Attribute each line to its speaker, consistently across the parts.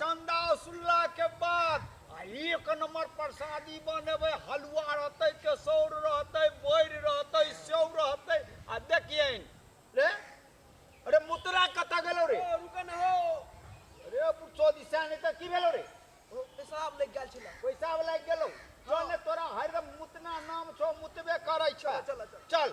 Speaker 1: चंदा सुनला के बाद आ एक नंबर प्रसादी बनेबे हलुआ रहते केसौर रहते बोर रहते सेव रहते आ देखिए रे अरे मुतरा कता गेलो रे रुके न हो अरे पुछो दिशा नहीं तो की भेलो रे पेशाब लग गया छला पैसा वाला गेलो चल तोरा हरदम मुतना नाम छो मुतबे करे छो चल चल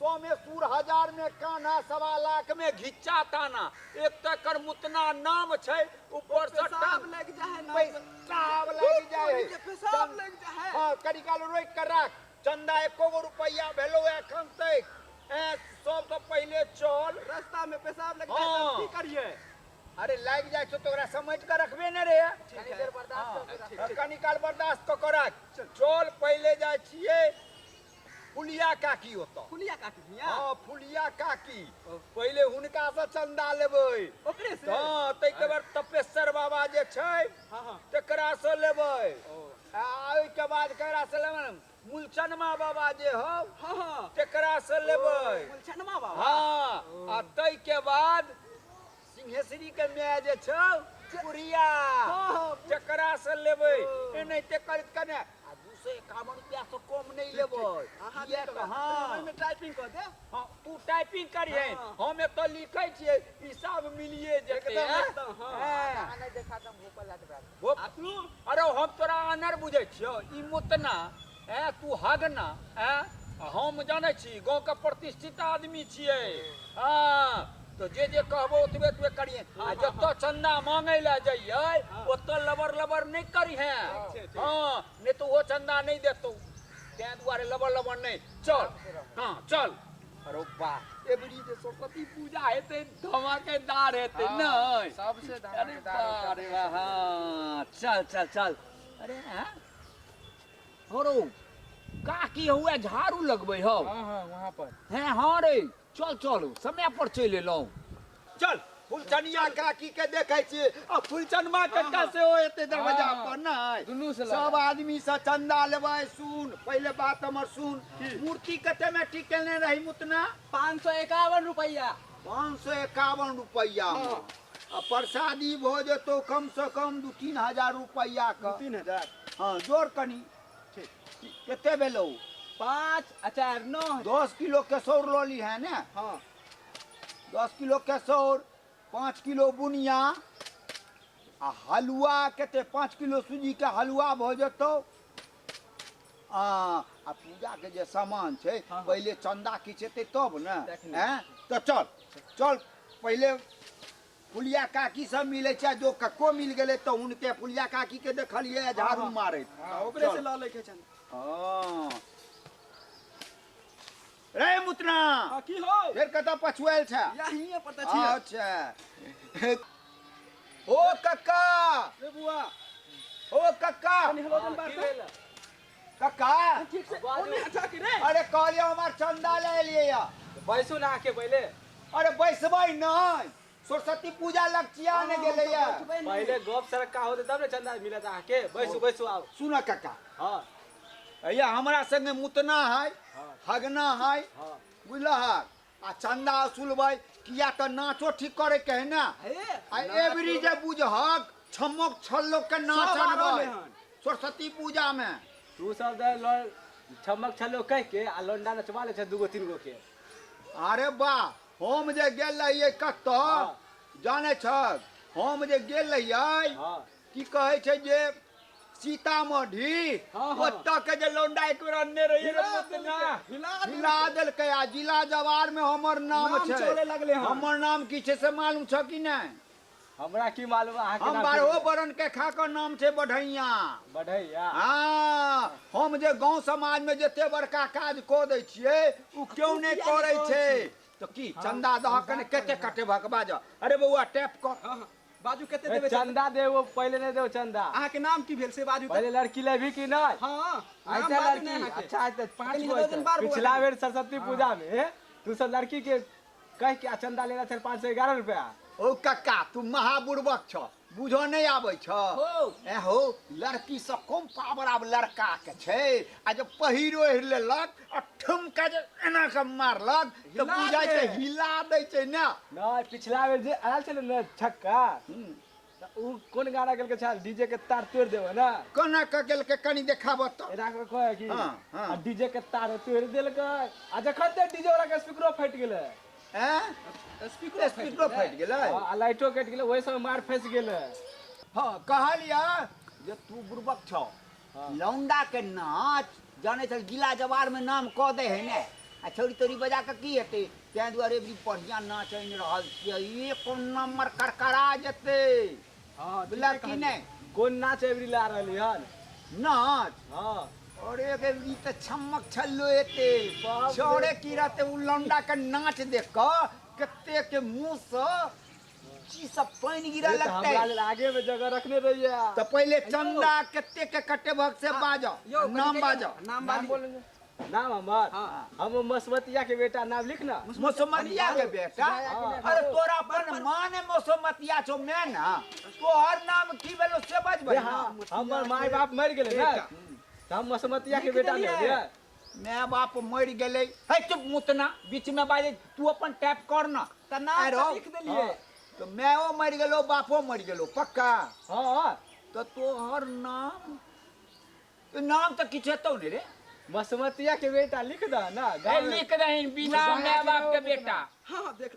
Speaker 1: सौ मे सूर हजार मे कान्हा सवा लाख मे घिच्चा ताना एक तऽ एकर मुतना नाम छै ऊपर से पेशाब लागि जाइ है नाक से। पेशाब लागि जाइ है के पेशाब लागि जाइ है। हाँ, कनी काल रोकि कऽ राख चंदा एको गो रुपैआ भेलौ एखन तक ऐं, सबसँ पहिले चल रास्ता में पेशाब लग जाए हाँ। तब की करिए अरे लागि जाइ छौ तऽ ओकरा समझि कऽ रखबे ने रे कनी देर बर्दाश्त कऽ कऽ राख। कनी काल बर्दाश्त कऽ कऽ राख चल पहिले जाइ छियै फुलिया काकी होता फुलिया काकी हिया हाँ फुलिया काकी ओ। पहले हुनका से चंदा लेबै ओकरे से हाँ ताहिके बाद तपेश्वर बाबा जे छै हाँ हाँ तकरा से लेबै ओ आ ओहिके बाद ककरा से लेबै ने? मुलचनमा बाबा जे हौ हाँ हाँ तकरा से लेबै मुलछनमा बाबा हाँ आ ताहिके बाद सिंहेश्वरी के माय जे छौ बुढ़िया जकरा से लेबै एनाहिते करैत कने आ दू सौ एकावन रुपया से कम नहि लेबै किया तऽ हँ टाइपिंग कऽ दे हँ, तू टाइपिंग करिहे हम एतऽ लिखै छियै ई सब मिलिए जेतै एकदम, हँ? एकदम, हँ। हँ। नहि देखा दम भोपल लाट भोप- अरे हम तोरा अनर बुझै छियौ ई मोतना ऐं तू हग ना ऐं हम जानै छी गाँवके प्रतिष्ठित आदमी छियै हँ तो जे जे कहबो ओतबे ओतबे करिहे आ जतऽ चंदा मांगे लए जइयै ओतऽ लबर लबर नहि करिहे हँ नहि तो ओ चंदा नहि देतौ तैं दुआरे लबर लबर नहि चल हँ चल अरे वाह एबरी जे सरस्वती पूजा हेतै धमाकेदार हेतै हँ, नहि सबसे अरे धमाकेदार वाह, अरे वाह, हाँ, चल चल चल अरे हाँ हरो काकी हुए झाड़ू लगबै हौ हाँ हाँ वहाँ पर हैं हाँ रे चल चल समय पर चलि एलहुँ चल फुलचनिया काकी के देखे छी आ फुलचनमा कक्का से ओ एते दरवाजा हाँ, पर नहीं दुनू से लगा। सब आदमी से चंदा लेबै सुन पहले बात हमर सुन मूर्ति कते में ठीक केने रही मुतना पाँच सौ एकावन रुपया पाँच सौ एकावन रुपया में। आ प्रसादी भऽ जेतौ कमसँ कम दू तीन हजार रुपैआके तीन हजार हँ जोड़ कनी कते भेलौ पाँच आ चारि नओ दस किलो केसौर लऽ ली है ने हँ दस किलो केसौर पाँच किलो बुनिया आ हलुआ कते पाँच किलो सूजीके हलुआ भऽ जेतौ हाँ आ पूजा के जे सामान छै हाँ। पहिले चंदा किछ एतै तब ने तखने। हैं तो चल चल पहिले फुलिया काकी सब मिले छै जो कक्को मिल गेले तो उनके फुलिया काकी के देखलिए है झाड़ू हाँ। मारैत तऽ ओकरे से चल। लऽ लैके छनि हाँ रे मुतना आ की हो फेर कतऽ पछुआल छ यहीं पर तऽ छियै अच्छा ओ कक्का रे बुआ ओ कक्का कनी हेलो जन बात से कक्का ठीक से ओने हटा के रे अरे कहलियो हमार चंदा ले लिए या बैसू ना आके पहिले अरे बैसबै नहीं सरस्वती पूजा लग चिया ने गेले या पहले गप सड़क का होते तब ने चंदा मिलत आके बैसू बैसू आओ सुन काका हां अया हमरा संगे मुतना है हगना है बुझल है आ चंदा असुल भाई किया तो नाचो ठीक करे के है ना आ एवरी जे बुझहक छमक छल्लो के नाच सब आ रहले अनबै हन। सरस्वती पूजा में तू सब दे लो छमक छलो कह के आ लोंडा नचवा ले छ दूगो तीन गो के अरे वाह हम जे गेल रहियै कतऽ हाँ। जाने छक हम जे गेल रहियै हाँ। की कहै छै जे सीतामढ़ी हाँ, हाँ। ओतऽ के जे लौंडा एक बेर अनने रहियै रे हिला मुतना देलकै, हिला हिला देलकै आ जिला जवार में हमर नाम नाम छै चले लगलै हन। हमर नाम की छै से मालूम छ कि नहि हमरा की मालूम अहाँ के हम नाम बारहो की- बरन के खा के नाम छै बढ़ैया बढ़ैया हाँ हम जे गांव समाज में जते बड़का काज कऽ दै छियै ओ केओ नहि किया करै नहि छै करै तऽ की चंदा दह के ने कते कटे भकबा जा अरे बौआ टैप कर हाँ, हाँ। बाजू कते ए, देबै चंदा चंदा देबो पहिले नहि देबो चंदा अहाँके नाम की भेल से बाजू तऽ। पहिले लड़की लेबी कि नहि हाँ नाम ऐसा बाजू ने लड़की अहाँके। अच्छा ऐसा पाँच कनी गो दर्जन ऐसा। बार बौआ पिछला देबै। बेर सरस्वती पूजा में तू सब लड़की के कहि के आ चंदा लेला छल पाँच सौ एगारह रुपया हौ कक्का तू महाबुड़बक छ बुझऽ नहि आबै छ हौ। ए हौ लड़की से कम पावर आब लड़का के छै आ जब पहिर ओढ़ि लेलक आ ठुमका जे एना के मारलक तऽ हिला बुझाइ छै दे। हिला दै छै ने नहि पिछला बेर जे आयल छलै ने छक्का त ऊ कोन गाना गेलकै छाल डीजे के तार तोड़ देबो ना कोना क गेल के कनी देखाब त एना के कहे कि हाँ, हाँ। आ डीजे के तार तोड़ देलकै आ जखन ते डीजे वाला के स्पीकरो फट गेलै हैं स्पीकरो स्पीकरो फट गेलै हाँ, आ लाइटो कट गेलै ओहि समय मार फंस गेलै हाँ कहलिया जे तू बुर्बक छौ लौंडा के नाच जाने छल गिला जवार में नाम कह दे है ने आ छोरी तोरी बजा के की हेते तै दुआरे भी बढ़िया नाच आइन रहल छियै एक नंबर करकरा जेते हां बिला की ने कोन नाच एवरी ला रहली हन नाच हां और एक एवरी त छमक छल्लो एते छोड़े की रहते उ लौंडा के नाच देख के कते के मुंह से की सब पानि गिरा अरे तऽ लगतै हमरा लेल आगे में जगह रखने रहिए तऽ पहिले चंदा कते के कटेबक से बाजऽ यौ, नाम कथी बाजऽ कहियौ? नाम बाजू। बोल नाम हमर हाँ। हम मसमतिया के बेटा नाम लिख ना मोसमतिया के बेटा हाँ। अरे तोरा अपन माँ ने मोसमतिया छौ मैं ना तोहर नाम की भेलो से बजबै हाँ, हमर माय बाप मर गेलै ना बेटा। तऽ हम मसमतिया के लिख बेटा देलियै। लेलियै माय बाप मरि गेलै है चुप मुतना बीचमे बाजै तू अपन टाइप कर न तऽ नाम अरे, तऽ लिख देलियै हँ, तऽ मायो मरि गेलो बापो मरि गेलो पक्का हँ तऽ तोहर नाम ई नाम तऽ किछु हेतौ ने रे बसमतिया के बेटा लिख दह ना ए, गाँव में। लिख दही बिना माय बाप के बेटा हँ देख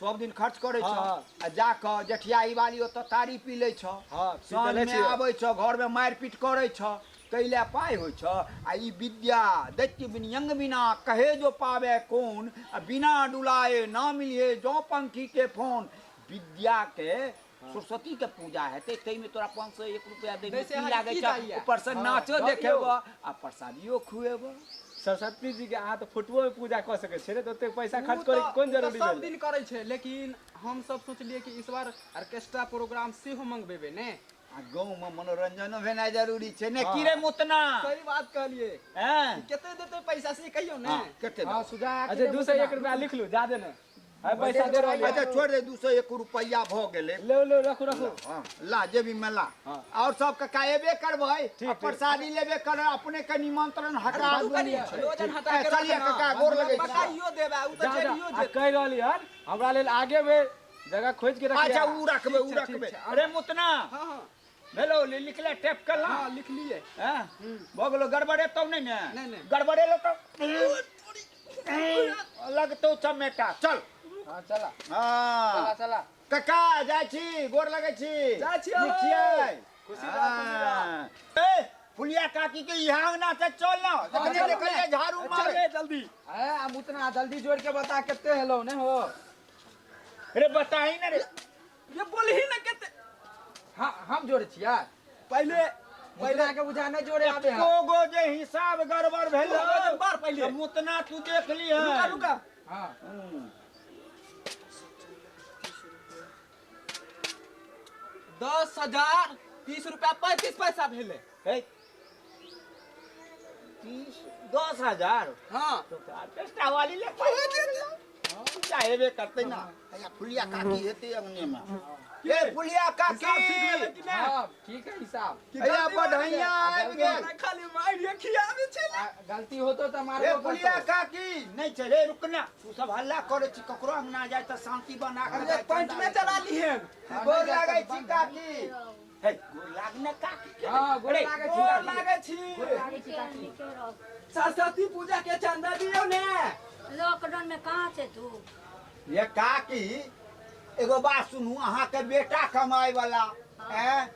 Speaker 1: सब दिन खर्च करै छौ हाँ। आ जा कऽ जठियाही वाली ओतऽ तारी पी लै छौ हाँ, पी तऽ साँझ लै मे छियै। आबै छौ घर मे मारि पीट करै छौ तै लए पाइ होइ छौ आ ई विद्या दैत्य विनियंग बिना कहे जो पावे कोन आ बिना डुलाए ना मिलिहे जौ पंखी के फोन विद्या के हँ। सरस्वती के पूजा हेतै ताहिमे तोरा पाँच सए एक रुपया दै दैमे से की अहाँके लागै की छौ दैए? ऊपर से हँ, नाचो गप देखेबो यौ। आ प्रसादियो खुएबो सरस्वती जी के अहाँ तऽ फोटोओ मे पूजा कऽ सकै छियै ने तऽ ओतेक पैसा उ खर्च तऽ- करे के कोन उ तऽ जरूरी सब भेलै दिन करै छै लेकिन हम सब सोचलिए कि इस बार ऑर्केस्ट्रा प्रोग्राम सेहो मंगबेबे ने आ गाँव मे मनोरंजनो भेनाइ जरूरी छै ने हँ। की रे मुतना सही बात कहलिए हैं? कते देते पैसा से कहियो ने हाँ, कते हँ देबो? सुझा अच्छा दू सौ एक रुपया लिख लू जादे ने है पैसा दे रहल अच्छा छोड़ दे दू सौ एक रुपया भ गेले ले ले रखो रखो हाँ, ला जेबी में ला हाँ। और सब कका एबे करबै ठीक, आ प्रसादी लेबे कर अपने के निमंत्रण हटा बाबू कनी दूनी छै। लोजन हटा ए, के चलिए रखना। कका गोर लगै छी। बताइयो देबा उ जा त जा चलियो आ जेतै कहि रहली हन हमरा लेल आगे में जगह खोज के रखिया अच्छा उ रखबै उ ठीक छै, ठीक रखबै छै। अरे मुतना हाँ हाँ भेलो लि- लिखले टेप कर ला हाँ लिख लिए हैं हम्म, भऽ गेलो गड़बड़े तौ नहि ने नहि, नहि। गड़बड़े लो तौ लगतौ चमेटा चल हाँ चला चला हाँ चला कका जाइ छी गोर लगै छी जाइ छी, नीक छियै खुशी रहऽ, खुशी रहऽ। हाँ। ए फुलिया काकी के इहा अंगना से चल ना देखले चल, देखले चल। झाड़ू चल मार रे जल्दी है हम उतना जल्दी जोड़ के बता कितने हेलो ने हो रे बताही ना रे ये बोलही ना केते हाँ हम जोड़े छिया पहले पहले के बुझा ना जोड़े आवे है को गो जे हिसाब गड़बड़ भेल दू गो जे बार पहिले। तऽ मुतना तू देख ली है रुका रुका हाँ दस हजार तीस रुपया पैंतीस पैसा भेले है तीस दस हजार हाँ तो का पेस्टा वाली ले चाहे बे करते ना या फुलिया काकी हेते अंगने में ये फुलिया काकी हिसाब ठीक भेलै कि नहि? हाँ ठीक है हिसाब या बढ़ैया आबि गेल खाली मारि रे खियाबे छै आ, गलती होतो तो ए मारो फुलिया काकी नहीं चले रुकना तू सब हल्ला करे छी ककरो अंगना जाए त शांति बना के अरे पंच में चला लिहेन गोर लागै छी काकी हे गोर लाग ने काकी के हां गोर लागे छी गोर लागे छी गोर लागे छी काकी सरस्वती पूजा के चंदा दियो ने लॉकडाउन में कहां से तू ये काकी एगो बात सुनू अहाँ के बेटा कमाए वाला हाँ। हैं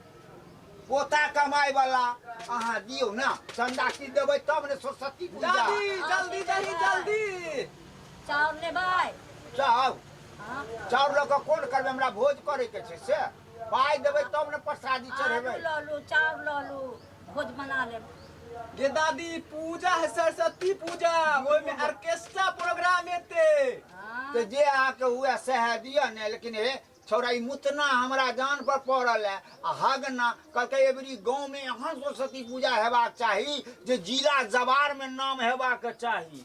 Speaker 1: पोता कमाए वाला अहाँ दियो ना चंदा की देबै तब ने सरस्वती पूजा जल्दी जल्दी जल्दी जल्दी चाउर ने भाई चाउ हाँ। चाउर लऽ कऽ कोन करबै हमरा भोज करैके छै से पाइ देबै तब ने प्रसादी आलू चढ़ेबै लऽ लू चाउर लऽ लू भोज बना लेब गे दादी पूजा है सरस्वती पूजा ओहिमे ऑर्केस्ट्रा प्रोग्राम हेतै हाँ, तऽ जे अहाँके हुए सएह दिअ ने लेकिन हे छौड़ा ई मुतना हमरा जान पर पड़ल है आ हगना कहलकै एबरी गाँव में एहन सरस्वती पूजा हेबाक चाही जे जिला जवार में नाम हेबाक चाही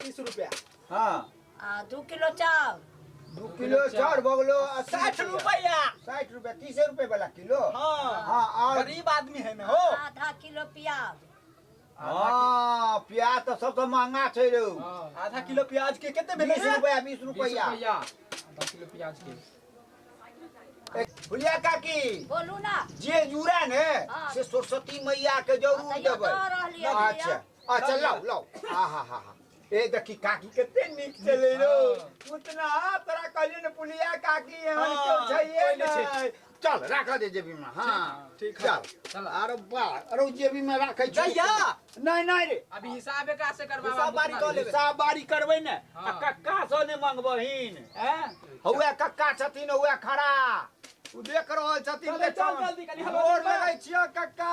Speaker 1: तीस रुपया हाँ आ दू किलो चाउर दू किलो चाउर भऽ गेलो अस्सी साठि रुपया साठि रुपया तीसे रुपये वाला किलो हाँ हाँ और गरीब आदमी है ना हो आधा किलो प्याज हाँ प्याज तो सबसे महंगा छै रे हाँ आधा किलो प्याज के कितने भेलै बीस रे? रुपया बीस बीस रुपया रुपया आधा किलो प्याज के फुलिया काकी बोलू ना जे जुड़ा ने हाँ। से सरस्वती मैया के जरूर हाँ, तऽ देबै यहाँ कहाँ रहलियै अच्छा भैया? अच्छा लाओ लाओ हा हा हा हा ए देखी काकी कते नीक चले रो उतना तोरा कहलियो ने पुलिया काकी एहन हाँ, केओ छैहे कोई नहीं छै। नै चल राख दे जेबी में हाँ ठीक है। चल चल आरो बा आरो जेबी में राखे छी जइया नै नै रे अभी हिसाब एकरा से करवा हिसाब बारी कऽ लेबै। हिसाब बारी करबै ने आ हाँ। कक्का सँ ने मंगबहिन हैं हौए कक्का छथिन हौए खड़ा ओ देख रहल छथिन चल, चल, बेचान। जल्दी कनी, हवा गोर दे। लगै छियौ कक्का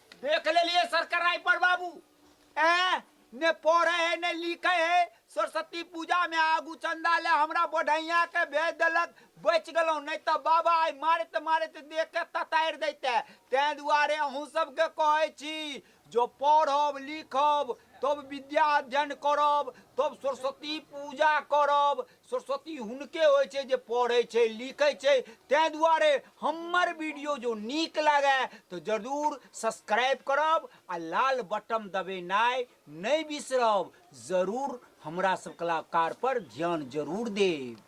Speaker 1: देख लेलिए सरकराई पर बाबू ए ने पढ़े है ने लिखे है सरस्वती पूजा में आगू चंदा ले हमरा बढ़ैया के भेज देलक बच गेलौ नहीं तो बाबा आई मारत मारत देख के ततार देते तै दुआरे अहूँ सबके कहे छी जो पढ़ब लिखब तब विद्या अध्ययन करब तब सरस्वती पूजा करब सरस्वती हुनके होइ छै जे पढ़ै छै लिखै छै ताहि दुआरे हमर वीडियो जो नीक लागए तऽ जरूर सब्सक्राइब करब आ लाल बटन दबेनाइ नहि बिसरब जरूर हमरा सब कलाकार पर ध्यान जरूर देब